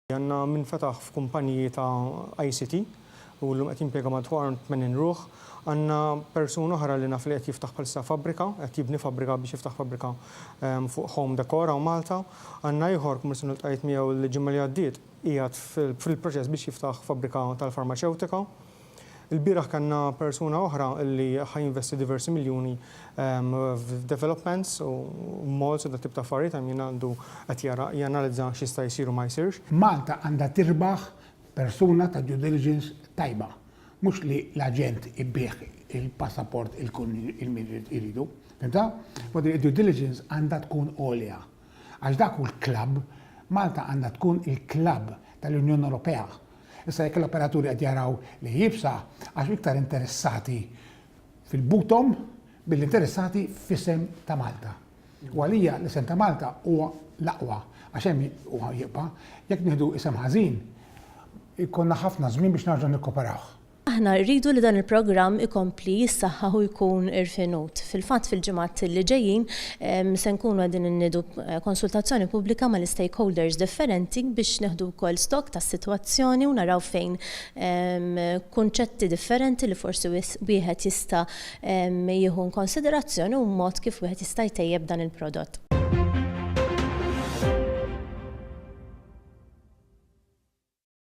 Għanna minn fetaħ f'kumpaniji ta' ICT u l-lum qed jimpjega madwar 80 ruħ. Għanna persun oħra li naf li qed jiftaħ bħalissa fabbrika, qed jibni fabbrika biex jiftaħ fabbrika ehm, fuq home dekora u Malta. Għanna ieħor kummersin l-tqajt miegħu l-ġimgħa li għaddiet qiegħed fil-proċess biex jiftaħ fabbrika tal-farmaceutika. Il-bieraħ kellna persuna oħra li ħa jinvesti diversi miljuni f'developments u malls u dat tip ta' affarijiet hemm jien għandu qed jara janalizza x'jista' jsir u ma jsirx. Malta għandha tirbaħ persuna ta' due diligence tajba, mhux li l-aġent ibigħ il-passaport il kun min iridu. Fimtha? U din id-due diligence għandha tkun għolja. Għax dak hu l-klabb, Malta għandha tkun il-klabb tal-Unjoni Ewropea Issa jekk l-operaturi qed jaraw li hi iebsa għax iktar interessati fil-buthom milli interessati f'isem ta' Malta. U għalija l-isem ta' Malta huwa l-aqwa għax hemm huwa jibqa'. Jekk nieħdu isem ħażin, ikollna ħafna żmien biex nerġgħu nikkuperawh. Aħna rridu li dan il-programm ikompli jissaħħaħ u jkun irfinut. Fil-fatt fil-ġimgħat li ġejjin se nkunu qegħdin inniedu konsultazzjoni pubblika mal-istakeholders differenti biex nieħdu wkoll stock tas-sitwazzjoni u naraw fejn kunċetti differenti li forsi wieħed jista' jieħu inkonsiderazzjoni u mod kif wieħed jista' jtejjeb dan il-prodott.